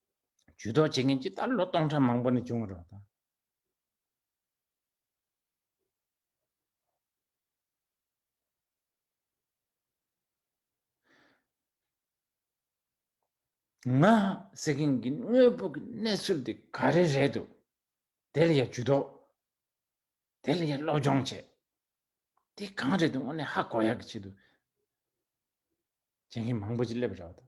S1: ཇུས་གཏོགས་བྱེད་མཁན་ཇི་ལྟར་ལོ་སྟོང་ཕྲག་མང་པོ་ནས་བྱུང་རོགས་དང། ང་ཟེར་མཁན་གྱི་དངོས་པོ་གི་གནས་ཚུལ་དེ་ག་རེ་རེད་འདུག་དེ་ལ་ཡང་ཇུས་གཏོགས་དེ་ལ་ཡང་སློབ་སྦྱོང་བྱས་དེ་གང་རེད་འདུག་དངོས་གནས་ཧ་གོ་ཡག་གི་ཆེད་དུ་བྱེད་མཁན་མང་པོ་ཅིག་སླེབས་རོགས་དང།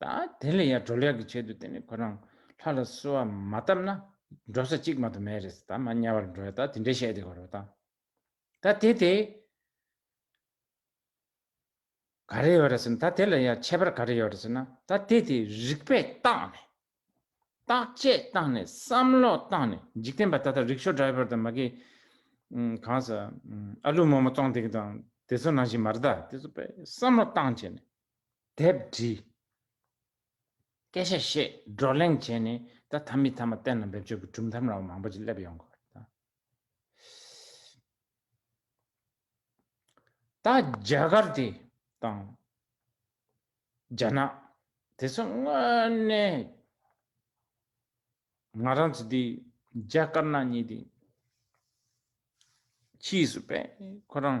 S1: ད་དེ་ལས་ཡར་འགྲོ་ལེགས་ཀྱི་ཆེད་དུ་དེ་ནི་ཁོ་རང་ལྷ་ལ་གསོལ་བ་མ་བཏབ་ན་འགྲོ་ས་གཅིག་མ་དུ་མེད་རེད་ད་མ་དམྱལ་བར་འགྲོ་ཡ་ད་དེ་འདྲས་བཤད་དེ་གོ་རོ་ད། ད་དེ་དེ། ག་རེ་ཡོད་རེད་ཟེར་ན་ད་དེ་ལ་ཡར་ཁྱད་པར་ག་རེ་ཡོད་རེད་ཟེར་ན་ད་དེ་དེ་རིག་པས་བརྟགས་ནས། བརྟག་དཔྱད་བཏང་ནས་བསམ་བློ་བཏང་ནས་འཇིག་རྟེན་པ་ད་ལྟ་རིག་ཞོ་འདྲ་བོར་དང་མ་གི། གང་ཟེར། ཨ་ལུ་མོ་མོ་ཙོང་དེ་གི་དང་དེ་ཚོ་ནང་བཞིན་མ་རེད་ད་དེ་ཚོ་བསམ་བློ་བཏང་བྱས་ནས། དེབ་བྲིས། སྐད་ཆ་བཤད། བགྲོ་གླེང་བྱས་ནས་ད་ཐ་མི་ཐ་མ་གཏན་ལ་འབེབས་ཕྱོགས་ཀྱི་གྲུབ་མཐའམ་ར་བ་མང་པོ་ཅིག་སླེབས་ཡོང་གི། ད་རྒྱ་གར་དེ་དང། རྒྱ་ནག་དེ་ཚོ་དངོས་གནས། ང་རང་ཚོ་དེ་རྒྱ་དཀར་ནག་གཉིས་དེ། ཕྱིས་སུ་པས་ཁོ་རང།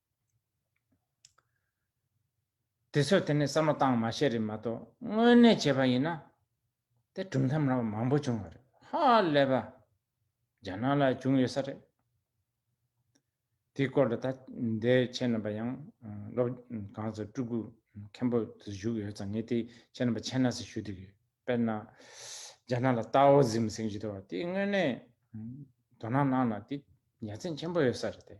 S1: དེ་ཚོས་དེ་ནས་བསམ་བློ་བཏང་མ་ཤེས་རེད་མ་གཏོགས་དངོས་གནས་བྱས་པ་ཡིན་ན། དེ་གྲུབ་མཐའ་མང་པོ་མང་པོ་བྱུང་བ་རེད་ཧ་ལས་པ། རྒྱ་ནག་ལ་བྱུང་ཡོད་ས་རེད། དེའི་སྐོར་ལ་ད་ལྟའི་ཁྱེད་རྣམ་པ་ཡང་སློབ་གང་ཚོ་སྤྲུལ་སྐུ་མཁན་པོ་དུ་བཞུགས་ཡོད་ཙང་ངས་དེ་ཁྱེད་རྣམ་པ་མཁྱེན་ན་ཟེར་ཞུ་འདོད་ཡོད་དཔེར་ན། རྒྱ་ནག་ལ་རྟའོ་ཟིམ་སེང་ཇི་ཏོ་བ་དེ་དངོས་གནས་དོ་སྣང་གནང་ན་དེ་ཡ་མཚན་ཆེན་པོ་ཡོད་ས་རེད་དེ།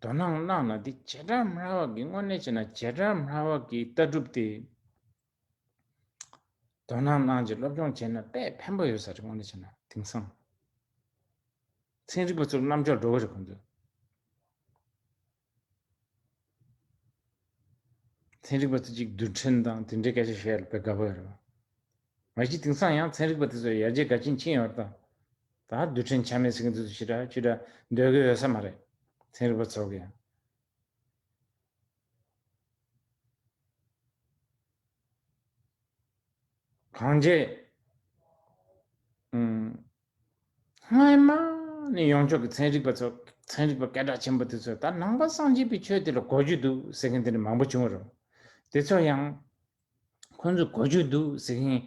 S1: དོ་སྣང་གནང་ན་འདི་བྱེ་བྲག་མ་ལྷ་བག་གི་དངོས་གནས་བྱེད་ན་བྱེ་བྲག་མ་ལྷ་བག་གི་ལྟ་གྲུབ་སྟེ། དོ་སྣང་གནང་རྗེས་སློབ་སྦྱོང་བྱས་ན་དཔེ་ཕན་པོ་ཡོད་ས་རེད་དངོས་གནས་བྱས་ན་དེང་སང་ཚན་རིག་པ་ཚོར་རྣམ་འཇོག་འགྲོ་གི་རེད་གོ་འདོད། ཚན་རིག་པ་ཚོས་གཅིག་བསྡུར་ཕྲན་དང་དེ་འབྲེལ་སྐད་ཆ་བཤད་ཡོད་པས་དགའ་པོ་ཡོད། མ་གཞི་དེང་སང་ཡང་ཚན་རིག་པ་དེ་ཚོས་ཡར་རྒྱས་དགའ་ཆེན་ཕྱིན་ཡོད་རྟ། ད་བསྡུར་ཕྲན་ཆ་མེད་ཟེར་གྱིན་འདུག་ཚུལ་ཅི་འདྲ་ཅི་འདྲ་འདོད་གི་ཡོད་ས་མ་རེད། ཚན་རིག་པ་ཚོ་གི་ཡང། གང་བྱས། སྔོན་མ་ནས་ཡོངས་ཁྱབ་ཀྱི་ཚན་རིག་པ་ཚོ་ཚན་རིག་པ་སྐད་གྲགས་ཆེན་པོ་དེ་ཚོས་ད་ནང་པ་སངས་རྒྱས་པའི་ཆོས་དེ་ལ་གོ་རྒྱུ་འདུག་ཟེར་མཁན་དེ་འདྲ་མང་པོ་བྱུང་བ་རེད། དེ་ཚོ་ཡང། ཁོ་ཚོས་གོ་རྒྱུ་འདུག་ཟེར་མཁན།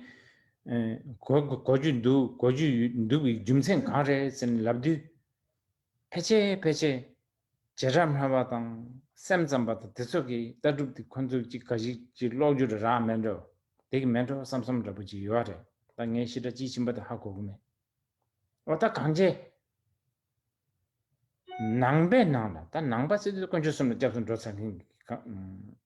S1: གོ་རྒྱུ་འདུག་གོ་རྒྱུ་འདུག་གི་རྒྱུ་མཚན་གང་རེད་ཟེར་ནས་ལབ་དུས། ཕལ་ཆེར་ཕལ་ཆེར། བྱེ་བྲག་སྨྲ་བ་དང་སེམས་ཙམ་པ་དང་དེ་ཚོ་གི་ལྟ་གྲུབ་དེ་ཁོ་ཚོ་གི་ག་ཞིག་ཅིག་ཀློག་རྒྱུ་ར་རག་མེད་འགྲོ་དེ་གི་མེད་འགྲོ་བསམ་བསམ་འདྲ་པོ་ཅིག་ཡོད་རེད་ད་ངའི་ཤི་དྲ་ཅིག་ཕྱིན་པ་དེ་ཧ་གོ་གི་མེད་འོ་ད་གངས་ཅན་ནང་པའི་ནང་ལ་ད་ནང་པ་སྲིད་དོན་དཀོན་མཆོག་གསུམ་ལ་སྐྱབས་སུ་འགྲོ་ཚར་མཁན་གི་གངས།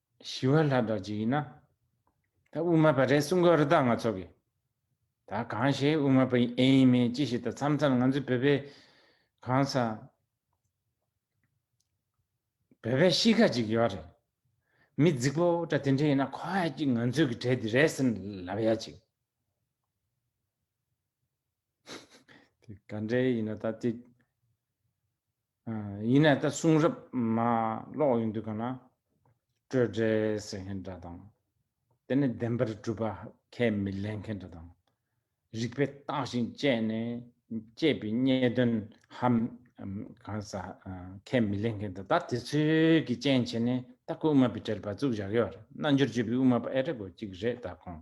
S1: ཞི་བ་ལྷ་བདག་ཅིག་ཡིན་ན། ད་དབུ་མ་པ་རེད་གསུང་གི་རི་དྭགས་ང་ཚོ་གིས། ད་གང་ཞིག་དབུ་མ་པ་ཡིན་ཨེ་ཡིན་མིན་ཅི་ཞིག་ད་མཚམས་མཚམས་ང་ཚོའི་བོད་པའི། གང་ས། བོད་པའི་གཤིས་ཀ་ཅིག་ཡོད་རེད། མི་རྫིག་པོ་འདྲ་དེ་འདྲ་ཡིན་ན་ཁོ་ཨེ་ཅིག་ང་ཚོའི་གི་གྲས་འདི་རེད་ཟེར་ལབ་ཡ་ཅིག། དེ་ག་འདྲའི་ཡིན་ན་ད་དེ། ཡིན་ནས་ད་གསུང་རབ་མ་ཀློག་ཡོང་དུས་གང་ན་སྤྲོས་བྲལ་ཟེར་མཁན་འདྲ་དང། དེ་ནི་བདེན་པར་གྲུབ་པ་ཁས་མི་ལེན་མཁན་འདྲ་དང། རིགས་པས་བརྟགས་ཤིང་དཔྱད་ནས་སྐྱེས་པའི་རྙེད་དོན་ཧམ་གང་ཟ་ཁས་མི་ལེན་མཁན་འདྲ་ད་དེ་ཚོའི་གི་ཅན་བྱས་ནས་ད་སྐུ་དབུ་མ་པའི་གྲལ་བ་ཙུག་བཞག་ཡོད་རེད་རྣལ་འབྱོར་སྤྱོད་པའི་དབུ་མ་པ་ཨེ་རེད་དགོས་གཅིག་རེད་ད་ཁོང།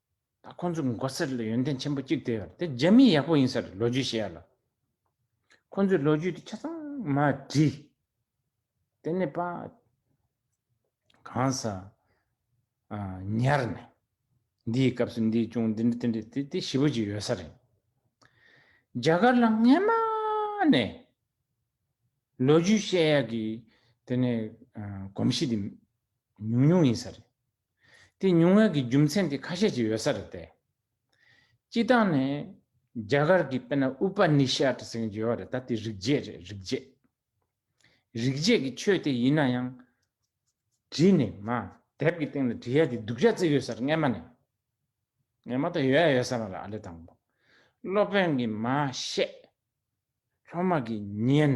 S1: ད་ཁོང་ཚོའི་མགོ་སེར་ལ་ཡོན་ཏན་ཆེན་པོ་གཅིག་དེ་དེ་རྒྱ་མི་ཡག་པོ་ཡིན་ས་རེད་ལོ་རྒྱུས་ཤེས་ཡ་ལ། ཁོང་ཚོའི་ལོ་རྒྱུས་དེ་ཆ་ཚང་མ་བྲིས། དེ་ནས་པ། གང་ས། ཉར་ནས། འདིའི་སྐབས་སུ་འདི་བྱུང་འདི་འདི་དེ་འདྲ་དེ་དེ་བཞི་པོ་ཅིག་ཡོད་ས་རེད། རྒྱ་གར་ལ་སྔན་མ་ནས། ལོ་རྒྱུས་ཤེས་ཡ་གི་དེ་ནས་གོམས་གཤིས་དེ་ཉུང་ཉུང་ཡིན་ས་རེད། དེ་ཉུང་ངེས་ཀྱི་རྒྱུ་མཚན་དེ་ཁ་ཤས་ཀྱིས་ཡོད་ས་རེད་དེ། སྤྱི་བཏང་ནས། རྒྱ་གར་གྱི་དཔེར་ན་ཨུ་པ་ནི་ཤཱ་ཏྲི་ཟེར་མཁན་གྱི་ཡོད་རེད་ད་དེ་རིག་བྱེད་རེད་རིག་བྱེད། རིག་བྱེད་ཀྱི་ཆོས་དེ་ཡིན་ན་ཡང། བྲིས་ནས་མ་དེབ་ཀྱི་སྟེང་ལ་བྲིས་ཡ་དེ་སྡུག་ཅག་བརྩི་ཡོད་ས་རེད་སྔ་མ་ནས། ངས་མ་ད་ཡོད་ཡ་ཡོད་ས་མ་རེད་ཨ་ལས་དང་པོ། སློབ་དཔོན་གྱིས་མ་བཤད། སློབ་མ་གྱིས་ཉན།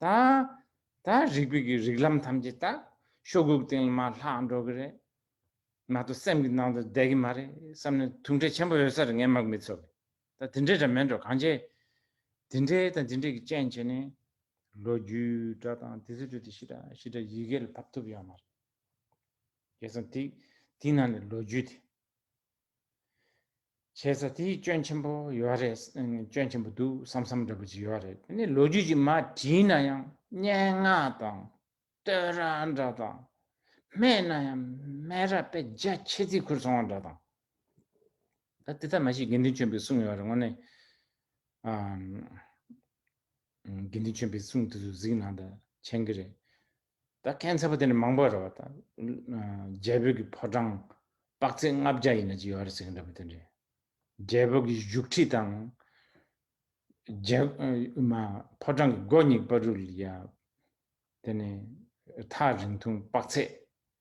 S1: དང། ད་རིག་པའི་གི་རིག་ལམ་ཐམས་ཅད་དག་ཤོག་གུ་གི་སྟེང་ལ་མ་ལྷག་འགྲོ་གི་རེད། མ་གཏོགས་སེམས་ཀྱི་ནང་དུ་བསྡད་གི་མ་རེད་བསམ་ནས་ཐུགས་འཕྲད་ཆེན་པོ་ཡོད་ས་རེད་ངས་མག་མི་འཚོ་གི། ད་དེ་འདྲས་འདྲ་མེད་འགྲོ་གང་བྱེད། དེ་འདྲས་དང་དེ་འདྲས་ཀྱི་རྐྱེན་བྱས་ནས། ལོ་རྒྱུས་འདྲ་དང་དེ་ཚོ་འདྲ་དེ་ཤི་འདྲ་ཤི་འདྲ་ཡི་གེ་ལ་ཕབ་ཐུབ་ཡོད་མ་རེད། རྒྱལ་ཚང་དེ་དེའི་ནང་ནས་ལོ་རྒྱུས་དེ། བྱས་ཚ་དེའི་སྐྱོན་ཆེན་པོ་ཡོད་རེད་སྐྱོན་ཆེན་པོ་འདུག་བསམ་བསམ་འདྲ་པོ་ཅིག་ཡོད་རེད་དེ་ནས་ལོ་རྒྱུས་ཀྱི་མ་བྲིས་ན་ཡང་སྙན་ངག་དང་བསྟོད་ར་འདྲ་དང་སྨད་ན་ཡང་སྨད་ར་དཔེ་རྒྱ་ཆེ་རྩིས་ཁུར་སོང་བ་འདྲ་དང། ད་དེ་ལྟར་མ་བྱེད་དགེ་འདུན་ཆོས་འཕེལ་གསུང་ཡོད་རེད་དངོས་གནས་དགེ་འདུན་ཆོས་འཕེལ་གསུང་དེ་ཚོ་གཟིགས་ན་ད་མཆན་གི་རེད། ད་གན་ཚད་པ་དེ་ནི་མང་པོ་རེད་བ་ད། རྒྱལ་བོད་ཀྱི་ཕོ་བྲང་དཔག་ཚད་ལྔ་བརྒྱ་ཡི་ན་ཅིག་ཡོད་རེད་ཟེར་གྱི་འདྲ་བ་དེ་འདྲས། རྒྱལ་བོད་ཀྱི་བཞུགས་ཁྲི་དང། ཕོ་བྲང་གི་སྒོ་གཉིས་པ་རུ་ལ་ཡང། དེ་ནི་ཐག་རིང་ཐུང་དཔག་ཚད་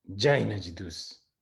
S1: བརྒྱ་ཡི་ན་ཅིག་འདུག།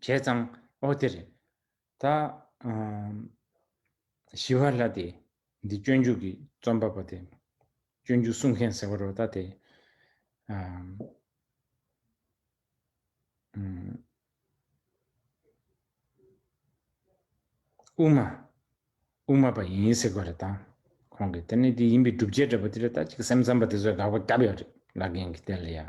S1: བྱས་ཙང་ཨོ་དེ་རེད། ད། ཞི་བ་ལྷ་དེ། འདི་སྤྱོད་འཇུག་གི་རྩོམ་པ་པོ་དེ། སྤྱོད་འཇུག་གསུང་མཁན་ཟེར་བ་རོ་ད་དེ། དབུ་མ། དབུ་མ་པ་ཡིན་ཟེར་བ་རེད་ད། ཁོང་གིས་དེ་ནི་དེ་ཡིན་པའི་སྒྲུབ་བྱེད་འདྲ་པོ་དེ་རེད་ད་ཅིག་སེམས་ཙམ་པ་དེ་ཚོས་དགག་པ་བརྒྱབ་ཡོད་རེད་ལ་རྒན་གྱིས་དེ་ལ་ཡ།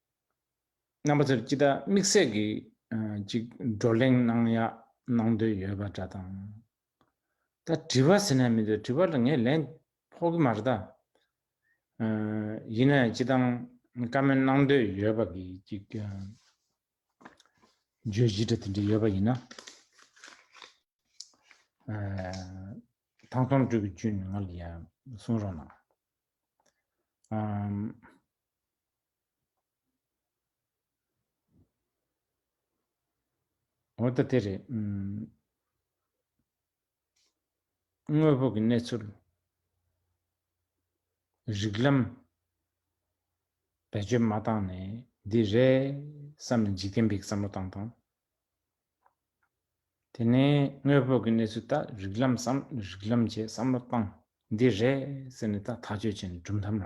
S1: རྣམ་པ་ཚོར་ཅི་ལྟར་དམིགས་བསལ་གྱིས་ཅིག་བགྲོ་གླེང་གནང་ཡག་གནང་འདོད་ཡོད་པ་འདྲ་དང། ད་དྲི་བ་ཟེར་ན་མི་འདུག་དྲི་བ་ལ་ངས་ལན་ཕོག་གི་མ་རེད་ད། ཡིན་ནའི་ཅི་གཏང་བཀའ་མོལ་གནང་འདོད་ཡོད་པ་གིས་ཅིག་བརྗོད་གཞི་འདྲ་དེ་འདྲ་ཡོད་པ་ཡིན་ན། ཐང་སྟོང་སྤྲུལ་སྐུ་ཅུན་ང་ལ་ཡང་གསུང་རོགས་གནང། འོ་ད་དེ་རེད། དངོས་པོ་གི་གནས་ཚུལ། རིགས་ལམ། བེད་སྤྱོད་མ་བཏང་ནས་འདི་རེད་བསམ་ནས་འཇིག་རྟེན་པའི་བསམ་བློ་བཏང་དང། དེ་ནས་དངོས་པོ་གི་གནས་ཚུལ་ལྟ་རིགས་ལམ་བསམ་རིགས་ལམ་བྱས་བསམ་བློ་བཏང་འདི་རེད་ཟེར་ནས་ད་ཐག་གཅོད་བྱས་ནས་གྲུབ་མཐའ་མ་བ།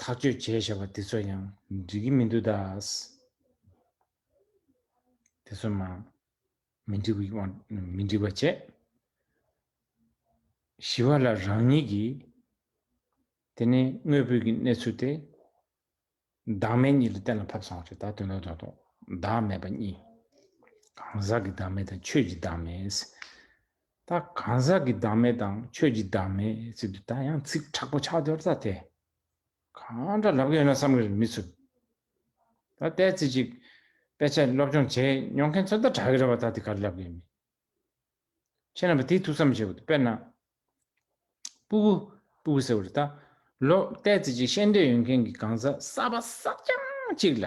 S1: ཐག་གཅོད་བྱས་ཞེས་པ་དེ་ཚོ་ཡང་འགྲིག་གི་མི་འདུག་ད། དེ་ཚོ་མ་མི་འགྲིག་པའི་དབང་མི་འགྲིག་པ་བྱས། ཞི་བ་ལ་རང་ཉིད་ཀྱི་དེ་ནས་དངོས་པོའི་གི་གནས་ཚུལ་དེ་བདག་མེད་གཉིས་ལ་གཏན་ལ་ཕབ་སོང་བ་རེད་ད་དོན་དག་དོན་དག་བདག་མེད་པ་གཉིས། གང་ཟག་གི་བདག་མེད་དང་ཆོས་ཀྱི་བདག་མེད། ད་གང་ཟག་གི་བདག་མེད་དང་ཆོས་ཀྱི་བདག་མེད་ཚིག་དུ་ད་ཡང་ཚིག་དྲག་པོ་ཆགས་འདོར་ད་དེ་གང་འདྲ་ལབ་གི་ཡོད་ན་བསམ་གི་མི་ཚུགས། ད་ལྟའི་ཚིག་ཅིག་དཔེ་ཆ་སློབ་སྦྱོང་བྱས་མྱོང་མཁན་ཚོ་ད་དྲག་གི་རེད་བ་ད་དེ་ག་རེ་ལབ་གི་ཡོད་མི་ཁྱེད་རྣམ་པ་དེ་ཐུགས་བསམ་བྱེད་དགོས་འདུག་དཔེར་ན། སྤུ་གུ། སྤུ་གུ་ཟེར་བ་རེད་ད། ལོ་ལྟའི་ཚིག་ཅིག་ཤེས་འདོད་ཡོད་མཁན་གྱི་གང་ཟག་གསར་པ་གསར་རྐྱང་ཅིག་ལ།